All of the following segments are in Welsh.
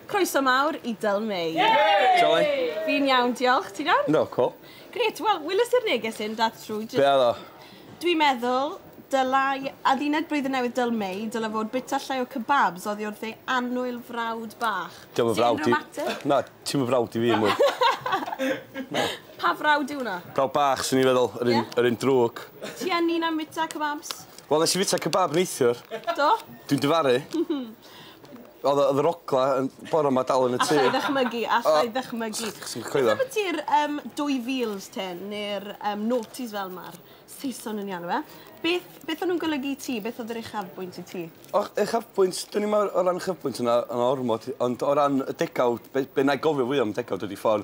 Croeso mawr i Dyl Mei. Shwmae? Fi'n iawn, diolch. Ti'n iawn? No, cool. Grêt, wel, weles i'r neges hyn, dath trwy jyst... Be oedd o? Dwi'n meddwl, dylai adduned Blwyddyn Newydd Dyl Mei, dylai fod bwyta llai o kebabs oddi wrth ei annwyl frawd bach. Ti unrhyw ymateb? Na, ti'm yn frawd i fi mwy. Na. Pa frawd yw hwnna? Brawd bach, swn i'n feddwl, yr un, yr un drwg. Ti yn un am fwyta kebabs? Wel, nes i fwyta kebab neithiwr. Do? Dwi'n difaru. Odd yy odd yr ogla yn bore 'ma dal yn y tŷ. Allai ddychmygu allai ddychmygu. O! Swn i'n coelio. Beth ambiti'r yym dwy fils te ne'r yym noughties fel ma'r Saeson yn 'u alw e beth beth o'n nw'n golygu i ti beth odd yr uchafbwynt i ti? O uchafbwynt dwn i'm o o ran uchafbwynt on' o- on' o ormod ond o ran y degawd be' be' 'nai gofio fwya am y degawd ydi ffordd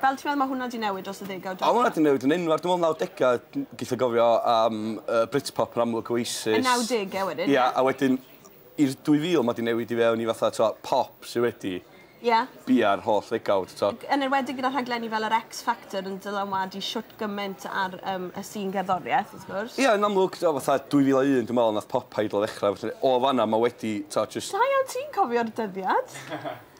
Fel ti'n meddwl mae hwnna 'di newid dros y ddegawd diwetha'? O ma' hwnna 'di newid yn enfawr dwi me'wl nawdegau n- geitho gofio am yy Britpop yn amlwg Oasis. Y nawdege wedyn ie? Ia a wedyn i'r 2000 ma' 'di newid i fewn i fatha t'o' pop sy wedi Ie. bia'r holl ddegawd t'o'? Yn enwedig gyda rhaglenni fel yr X Factor yn dylanwadu shwt gyment ar yym y sîn gerddorieth wrth gwrs. Ia yn amlwg t'o' fatha 2001 dwi me'wl nath pop Idol ddechra felly o fan 'na ma' wedi t'o' jyst... Da iawn ti'n cofio'r dyddiad.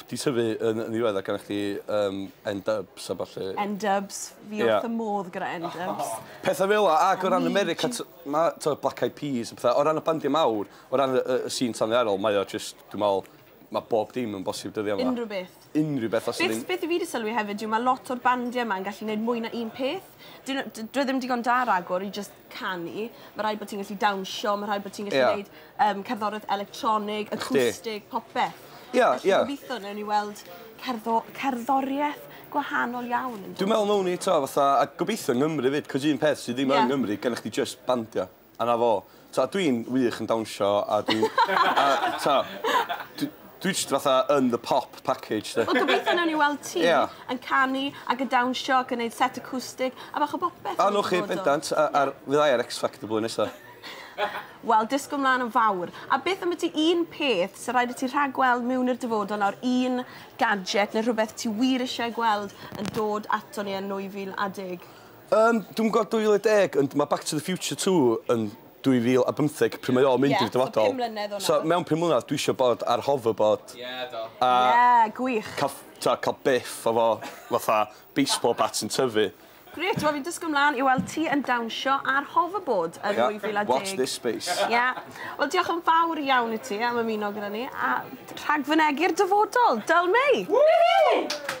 Wedi tyfu yn yn ddiweddar gynnoch chdi yym N-Dubz a ballu. N-Dubz, fi wrth fy modd gyda N-Dubz. Petha fela ac o ran America t- ma' t'o' Black Eyed Peas a petha o ran y bandia mawr o ran y y y sîn tanddaearol mae o jyst dwi me'wl ma' bob dim yn bosib dyddia 'ma. Unryw beth. Unryw beth os yw... Beth fi 'di sylwi hefyd yw ma' lot o'r bandia 'ma yn gallu neud mwy na un peth. 'Dyn n'w d- dyw e ddim digon da ragor i jyst canu, ma' raid bo' ti'n gallu dawnsio ma' rhaid bo' ti'n gallu... Ie. ...neud yym cerddorieth electronig... Ysti. ...acoustic popeth. Ie ie. Felly gobitho newn ni weld cerddo- cerddorieth gwahanol iawn yn dod. Dwi me'wl nown ni 'to fatha a gobitho yng Ngymru 'fyd 'c'os un peth sy ddim yn... Ie. ...Nghymru gennych chdi jyst bandia a 'na fo. T'o' dwi'n wych yn dawnsio a dwi'n a t'o' dwi Dwi jyst fatha yn the pop package 'de. Wel gobeithio newn ni weld ti... Ia. ...yn canu ag yn dawnsio ac yn neud set acoustic a bach o bopeth... A wnewch chi bendant a a r- fydda i ar X Factor blwyddyn nesa. Wel disgwl mlan yn fawr. A beth ambyti un peth sy raid i ti rhagweld miwn i'r dyfodol nawr un gadget ne' rhwbeth ti wir isie ei gweld yn dod aton ni yn nwy fil a deg? Yym dwi'm gw'o' dwy fil a deg ond ma' Back to the Future two yn 2015 pryd mae o'n mynd i'r dyfodol. Ie, so pum mlynedd o nawr. So mewn pum mlynadd dwi isio bod ar hoverboard. Ie, do. A... Ie, gwych. ...ca'l ff- t'o' ca'l biff efo fatha baseball bat sy'n tyfu. Grêt, wel fi'n disgwl mlan i weld ti yn dawnsio ar hoverboard yn 2010. Ie, watch this space. Ie. Wel diolch yn fawr iawn i ti am ymuno gyda ni a rhagfynegi'r dyfodol. Dull May! Woohoo!